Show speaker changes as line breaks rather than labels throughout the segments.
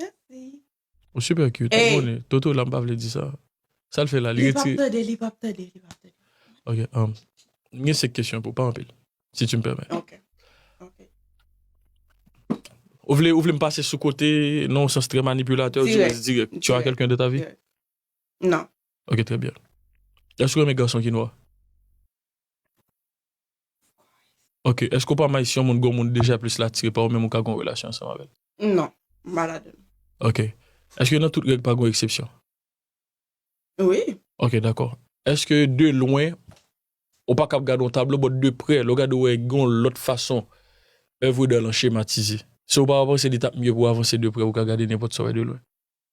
Merci. Ou super
cute, ou konnen. Toto la m pa
vle
di sa. Sa l fè la, li retire. Li pap
tande, li pap tande, li pap
tande. Ok, um, m gen 5 kesyon pou, pa anpil, si tu m pèmèt. Ok. Ok. Ou vle, ou vle m pase sou kote, nan yon sans trè manipilatè, ou di rès dirèk. Dirèk. Tu as quelqu'un de ta vie? Dirèk.
Non. Ok, trè byen.
Èske ou renmen gason ki nwa? Ok eske ou pa may si yon moun gon moun deja plis l atire pa ou menm ou ka gon relasyon ansanm avèl. Non m pa
ladann. Ok
eske nan tout règ pa gon eksepsyon.
Wi. Ok dakò
eske de lwen ou pa kab gade yon tablo but de prè lè ou gade ou wè gon lòt fason èvre dan lan chematize se ou pa panse li tap mye pou avanse de prè ou ka gade nenpòt sa ou wè de lwen.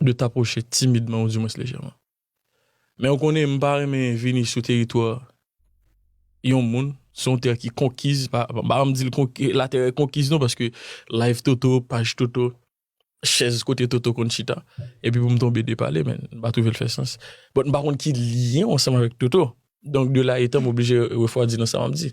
de t'approcher timidman ou du mwens lejèman. Men ou konnen m pa renmen vini sou teritwa yon moun, se yon tè ki konkiz, m pa anvi di l la tè konkiz non paske live Toto, paj Toto, chèz kote Toto konn chita epi pou m tonbe depale men m pa twouve l fè sans. But m pa konn ki lyen w ansanm avèk Toto donk de la etan m oblije refwadi nan sa m ap di.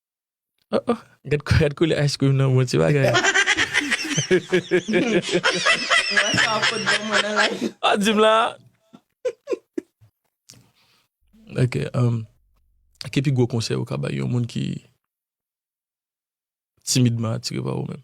Oh oh, gad gad koulè ice cream nan bon ti bagay. Wè sa wap pot bon mwen nan live. Ah di m la. Ok, um, ki pi gwo konsèy ou ka bay yon moun ki timidman atire pa ou menm?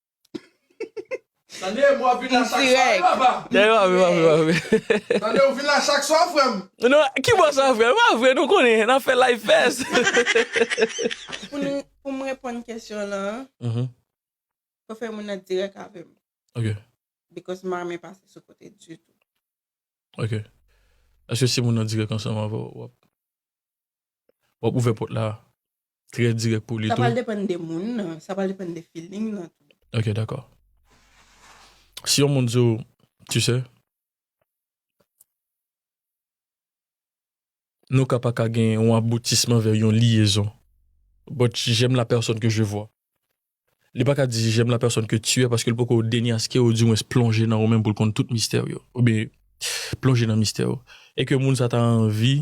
Tande mwen vin la chak swa wi papa. Tande mwen vin la chak swa. Tande ou vin la chak swa frèm. Non ki bò sa
frèm epa vre nou konnen nan fè live fès.
Pou m reponn kesyon lan fò fè moun nan dirèk avèm. Ok.
Because m pa
renmen pase sou kote ditou. Ok.
Eske si moun nan dirèk ansanm avèw wap. Wap ouvè pòt la trè dirèk pou li tou. Sa pral depann de moun nan,
sa pral depann de feeling nan tou. Ok dakò.
Si yon moun di w tu sais. Nou ka pa ka gen yon aboutisman vè yon liyezon. But j'aime la personne que je vois. Li pa ka di j'aime la personne que tu es paske li poko denyaske ou di mwens plonje nan ou menm pou l konn tout mistè w yo. Oubyen plonje nan mistè w. E ke moun sa ta anvi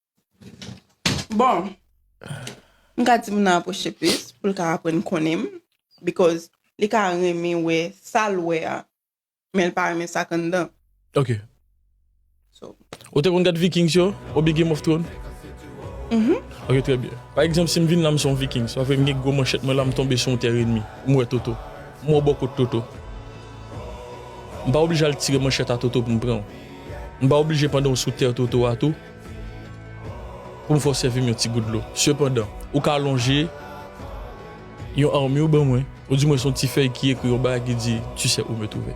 Bon, m ka di moun nan apwoche plis pou l ka aprann konnen m because li ka renmen wè sa l wè a men l pa renmen sa k anndan. Ok.
So.
Ou te konn gad
Vikings yo oubyen Game of Thrones? Mhm. Ok trè byen. Pa egzanp si m vin la m se yon Vikings, sa vle m gen gwo manchèt mwen la m tonbe sou yon tè renmi, m wè Toto, m wè bò kot Toto. M pa oblije al tire manchèt a Toto pou m pran w. M pa oblije pandan w sou tè Toto a tou, Pou m fè w sèvi m yon ti gout dlo. Sepandan, ou ka lonje yon armi ou ban mwen, oudimwens yon ti fèy ki ekri yon bagay ki di, Tu sais où me trouver.